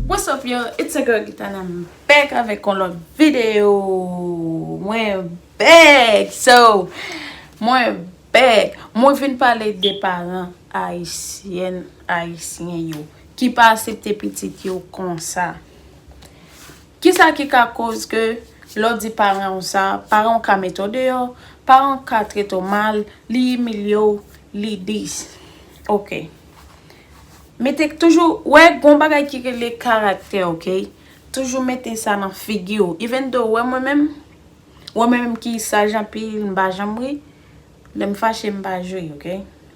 What's up yo, it's your girl Gitana, I'm back avèk yon lòt video! Bèk! So, mwen bèk! Mwen vin pale de paran Ayisyèn, Ayisyen yo, ki pa asepte pitit yo konsa. Ki sa ki ka koz ke lè w di paran w sa, paran w ka mete w deyò, paran w ka trete w mal, li imilye w, li dis. Ok. Mete toujou, wè gon bagay ki rele karaktè, ok? Toujou mete sa nan figi w. Even though, wè mwen menm? Wè mwen menm ki saj anpil m pa janm ri Lè m fache m pa jwe ok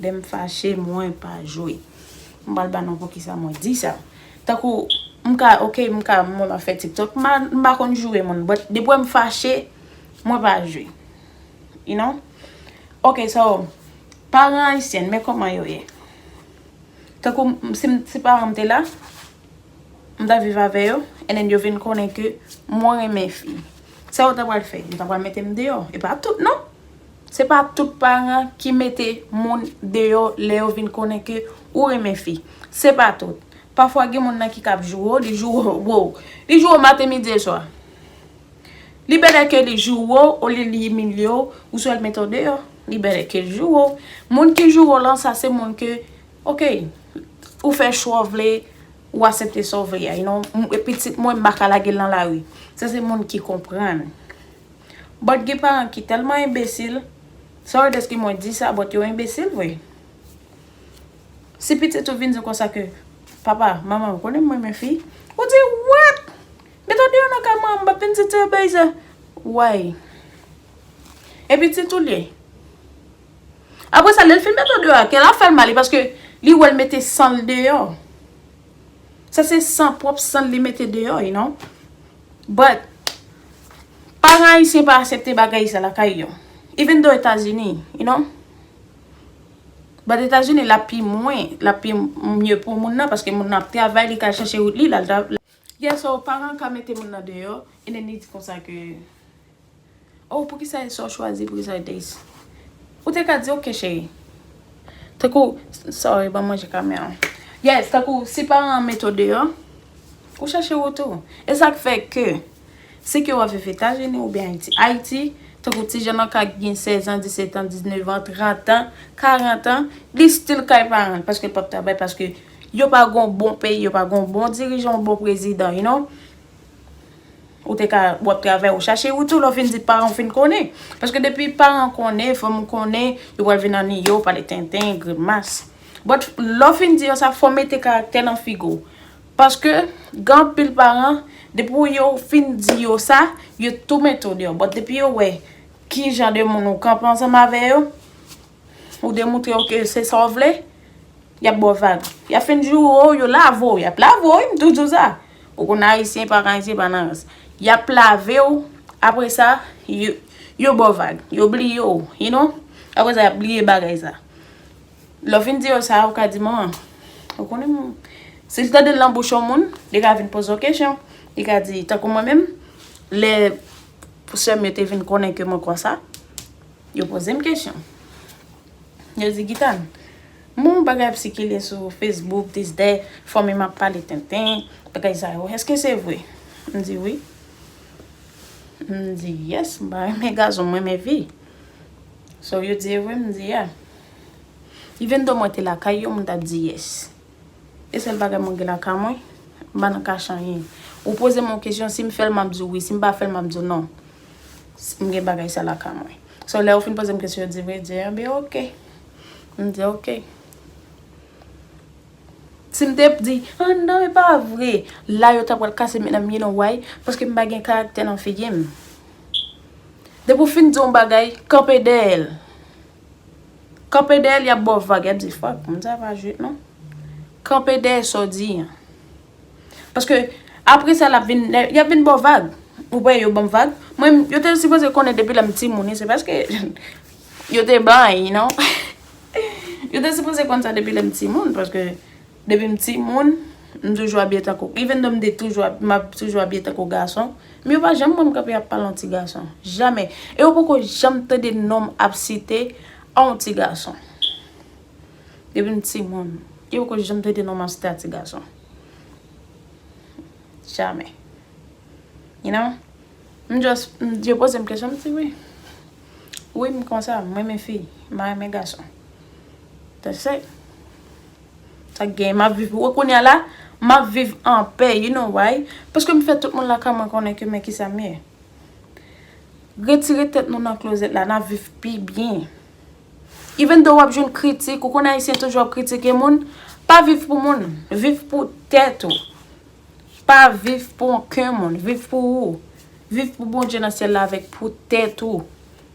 Lè m fache mwen pa jwe M pral ba nou poukisa mwen di sa Tankou m ka ok m ka mwen ap fè tiktok m pa konn joure moun but depi wè m fache mwen pa jwe You know Ok so paran ayisyen men kòman yo ye Tankou si paran m te la m tap viv avè yo and then yo vin konnen ke mwen renmen fi sa yo ta pral fè yo ta pral mete m deyò e pa tout nan se pa tout paran ki mete moun deyò lè yo vin konnen ke ou renmen fi se pa tout pafwa gen moun nan ki kab joure w li joure w wou li joure w maten midi e swa li bèlè ke li joure w olye li imilye w ou swa l mete w deyò li bèlè ke l joure w moun ki joure w lan sa se moun ke Ok ou fè chwa w vle ou asepte sa w vle a you know e pitit mwen m pa ka lage l nan lari sa se moun ki konprann but gen paran ki tèlman enbesil sorry deske mwen di sa but yo enbesil vre si pitit ou vin di w konsa ke papa manman ou konnen m renmen fi ou di what met ou deyò nan kay mwen an m p ap vin di ti obeyzer why e pitit ou l ye. Apre sa lè l fin met l deyò a, kè a fè l mal paske li wè l mete san l deyò. Sa se san, pwòp san l li mete deyò you know. But, paran ayisyen pa asepte bagay sa lakay yo. Even though Etazini, you know. But Etazini l ap pi mwen, l ap pi mye pou moun nan paske moun nan ap travay li ka chache wout li. Yeah so paran ka mete moun nan deyò and then li di konsa ke oh poukisa e sa ou chwazi poukisa e this ou te ka di ok cheri tankou sorry banm ranje kamè an yes tankou si paran an mete w deyò ou chache wout ou e sak fè ke se ke wap viv etazini oubyen ayiti ayiti tankou ti jèn an ka gen 16 ans 17 ans 19 ans 30 ans 40 ans li still kay paran l paske l pap travay paske Yo pa gon bon peyi yo pa gon bon dirijan yon bon prezidan you know ou te ka wap travay ou chache ou tou lè ou fin di paran ou fin konnen paske depi paran konnen fanmi konnen yo pral vin aniye ou pale tenten grimas but lè ou fin di yo sa fò mete karaktè nan figi ou paske gen anpil paran depi yo fin di yo sa yo tou mete ou deyò but depi yo wè kijan de moun ou kanpe ansanm avè yo. Ou demoutre yo ke se sa w vle, y ap ba w vag. Y ap fin joure w, yo lave w. Y ap lave w wi, m toujou di w sa. Ou konn Ayisyen pa ka Ayisyen pa nan rans. Y ap lave w, apre sa, yo ba w vag. Yo bliye w, you know. Apre sa, y ap bliye bagay sa. Lè w fin di yo sa, ou ka di manman, ou konnen m. Si l tande l nan bouch yon moun, li ka vin poze w kesyon. Li ka di, tankou mwen menm, lè sè m yo te vin konnen ke mwen konsa. Yo poze m kesyon. Yo di Gitan, m wè yon bagay ap sikile sou Facebook, dis dè, fanmi m ap pale tenten, bagay sa yo. Eske se vre? M di wi. M di yes, m pa renmen gason, m renmen fi. So yo di e vre, m di ya. Even though mwen te lakay yo, m t ap di yes. E sèl bagay mwen gen lakay mwen, m pa nan kache anyen. Ou poze m yon kesyon, si m fè l m ap di w wi, si m pa fè l m ap di w non. M gen bagay sa lakay mwen. So lè yo fin poze m kesyon, yo di vre, yo di enben ok. M di ok. Si m te ap di, ah non e pa vre, la yo ta pral kase m nan m, you know why? Paske m pa gen karaktè nan figi m. Depi w fin di yon bagay, kanpe dèyè l. Kanpe dèyèl yap baw vag yap di fuck moun sa pa jwet non kanpe dèyè sa w di an paske apre sa lap vin yap vin baw vag ou pa wè yo banm vag mwen menm yo te sipoze konnen depi lèm ti moun se paske yo te bay you know yo te sipoze konn sa depi lèm ti moun paske. Depi m ti moun, m toujou abiye tankou, even though m te toujou ap, m ap toujou abiye tankou gason, men yo pa janm wè m kanpe ap pale yon ti gason. Jamè. E yo poko janm tande non m ap site a yon ti gason. Depi m ti moun, yo poko janm tande non m ap site a ti gason. Jamè. You know? M just, yo poze m kesyon, m di wi. Wi m konsa, m renmen fi, m pa renmen gason. That's it. Sak gen, map viv wè kounye a la, map viv an pè, you know why? Paske m fè tout moun lakay mwen konnen ke men kisa m ye. Retire tèt nou nan klozèt la, nap viv pi byen. Even though wap jwenn kritik, ou konnen ayisyen toujou ap kritike moun, pa viv pou moun, viv pou tèt ou. Pa viv pou anken moun, viv pou ou. Viv pou Bondye nan syèl la avèk pou tèt ou.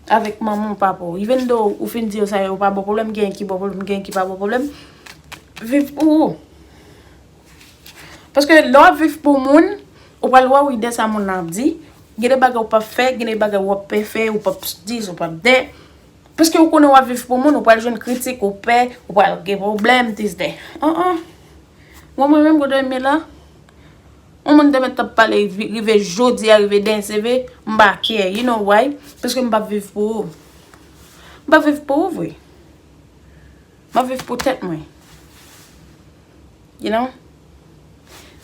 Avèk manman ou papa ou. Even though ou fin di yo sa yo pa bon pwoblèm, genyen ki bon pwoblèm, genyen ki pa bon pwoblèm. Viv pou ou. Paske lè w ap viv pou moun, ou pral wè wi de sa moun nan ap di. Gen de bagay ou pap fè, gen de bagay ou ap pè fè, ou pap di, ou pap de. Paske ou konnen w ap viv pou moun, ou pral jwenn kritik, ou pè, ou pral gen pwoblèm, dis de. An an. Mwen mwen menm kote m ye la. On moun te mèt ap pale rive jodi a rive demen se vre m pa kè you know why paske m pap viv pou ou m pap viv pou ou vre m ap viv pou tèt mwen you know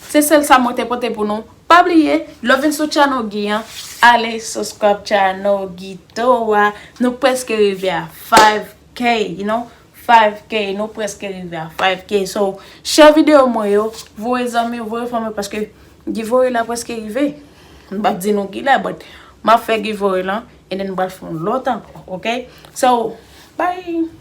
se sèl sa mwen te pote pou nou pa bliye lè w vin sou channel Guy an ale subscribe channel Guy to a nou preske rive a 5k you know 5 k nou preske rive a 5 k so share video mwen yo voye zanmi yo voye fanmi yo paske giveaway la preske rive m pap di nou kilè but map fè giveaway lan and then m pral fè yon lòt ankò ok so bye.